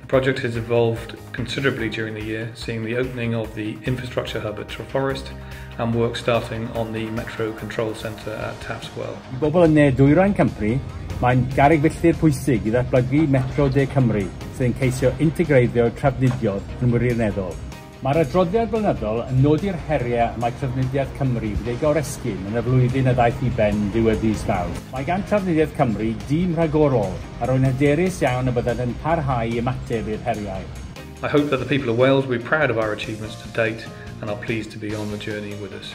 The project has evolved considerably during the year, seeing the opening of the infrastructure hub at Treforest and work starting on the Metro Control Centre at Tafts Well. I bobl yn ne dwyrain Cymru, mae'n garreg filltir pwysig i ddatblygu Metro De Cymru, sydd yn ceisio integreiddio trafnidiaeth yn wirioneddol. Mae'r adroddiad blynyddol yn nodi'r heriau y mae Trafnidiaeth Cymru wedi ei goresgyn yn y flwyddyn a ddaeth i ben ddiwedd fis Mawrth. Mae gan Trafnidiaeth Cymru dîm rhagorol, a rwy'n hyderus iawn y byddant yn parhau i ymateb i'r heriau. I hope that the people of Wales will be proud of our achievements to date and are pleased to be on the journey with us.